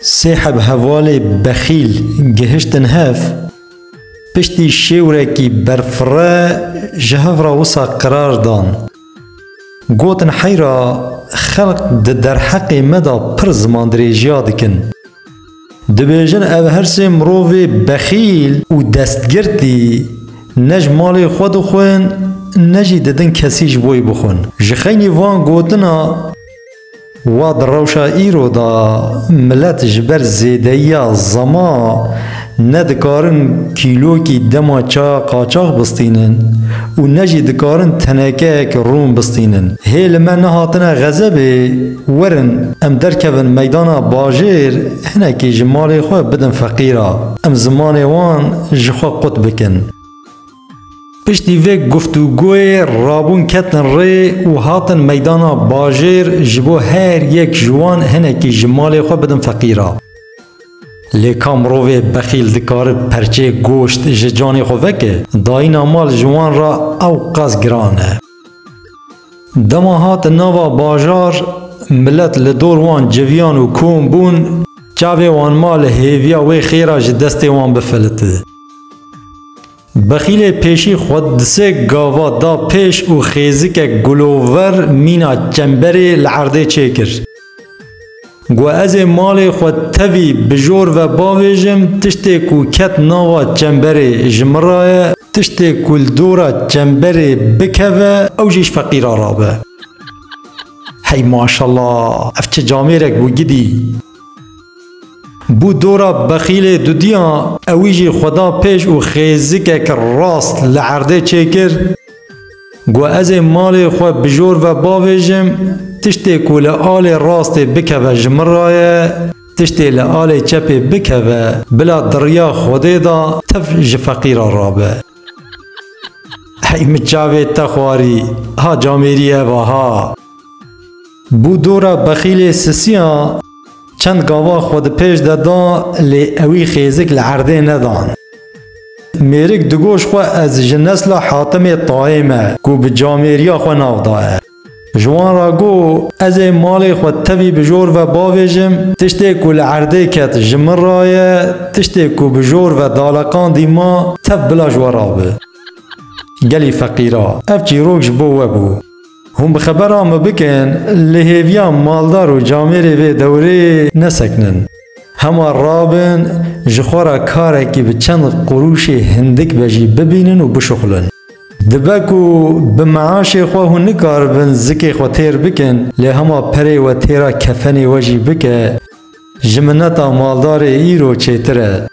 Sê heb hevalê bexîl gihiştin hev, piştî şêwrekî berfirre ji hev re wisa qirar dan. Gotin heyra xelq di derheqê me de pir zimandirêjiya dikin. Dibêjin ev her sê mirovê bexîl û destgirtî ne ji malê xwe dixwin ne jî didin kesî ji boî bixwin. Ji xeynî van gotina wa di rewşa îro de milet ji ber zêdeyiya zama ne dikarin kîlokî dema ça qaçax bistînin û ne jî dikarin tenekeyek rûn bistînin. Hê li me nehatine xezebê Werin em derkevin meydana bajêr hinekî ji malê xwe bidin feqîra em zimanê wan ji xwe qut bikin. Piştî vê guftûgoyê rabûn ketin rê û hatin meydana bajêr ji bo her yek ji wan hinekî ji malê xwe bidin feqîra. Lê ka mirovê bexîl dikare perçeyek goşt ji canê xwe veke, dayîna mal ji wan re ewqas giran e. Dema hatin nava bajar, milet li dor wan civiyan û kom bûn, çavê wan ma li hêviya wê xêra ji destê wan bifilite. Bexîlê pêşî xwe di sê gava da pêş û xêzikek gulover mîna çemberê li erdê çêkir. Got ez ê malê xwe tevî bi jor ve bavêjim, tiştê ku ket nava çemberê ji min re ye, tiştê ku li dora çemberê bikeve ew jî ji feqîran re be. Hey maşella ev çi camêrek bû gidî. Bû dora bexîlê dudiyan ewî jî xwe da pêş û xêzikek rast li erdê çêkir. Got ez ê malê xwe bi jor ve bavêjim, tiştê ku li alê rastê bikeve ji min re ye, tiştê li alê çepê bikeve bila di riya Xwedê de tev ji feqîr re rabe. Hey min çavê te xwarî, ha camêrî ev a ha. Bû dora bexîlê sisiya. Çend gava xwe di pêş de da lê ewî xêzik li erdê nedan. Mêrik digoş xwe ez ji nesla Hatimê Tayê me ku bi Camêriya xwe nav daye. Ji wan re got ez ê malê xwe tevî bi jor ve bavêjim, tiştê ku li erdê ket ji min re ye, tiştê ku bi jor ve daleqandî ma tev bila ji we re bi. Gelî feqîra. Ev çîrok ji bo we bû. Hûn bi xebera me bikin, li hêviya maldar û camêrê vê dewreyê nesekinin. Hema rabin, ji xwe re karekî bi çend qurûşê hindik be jî bibînin û bişuxulin. Dibe ku bi meaşê xwe hûn nikaribin zikê xwe têr bikin, lê hema perê we têra kefenê we jî bike, ji mineta maldarê îro çêtir e.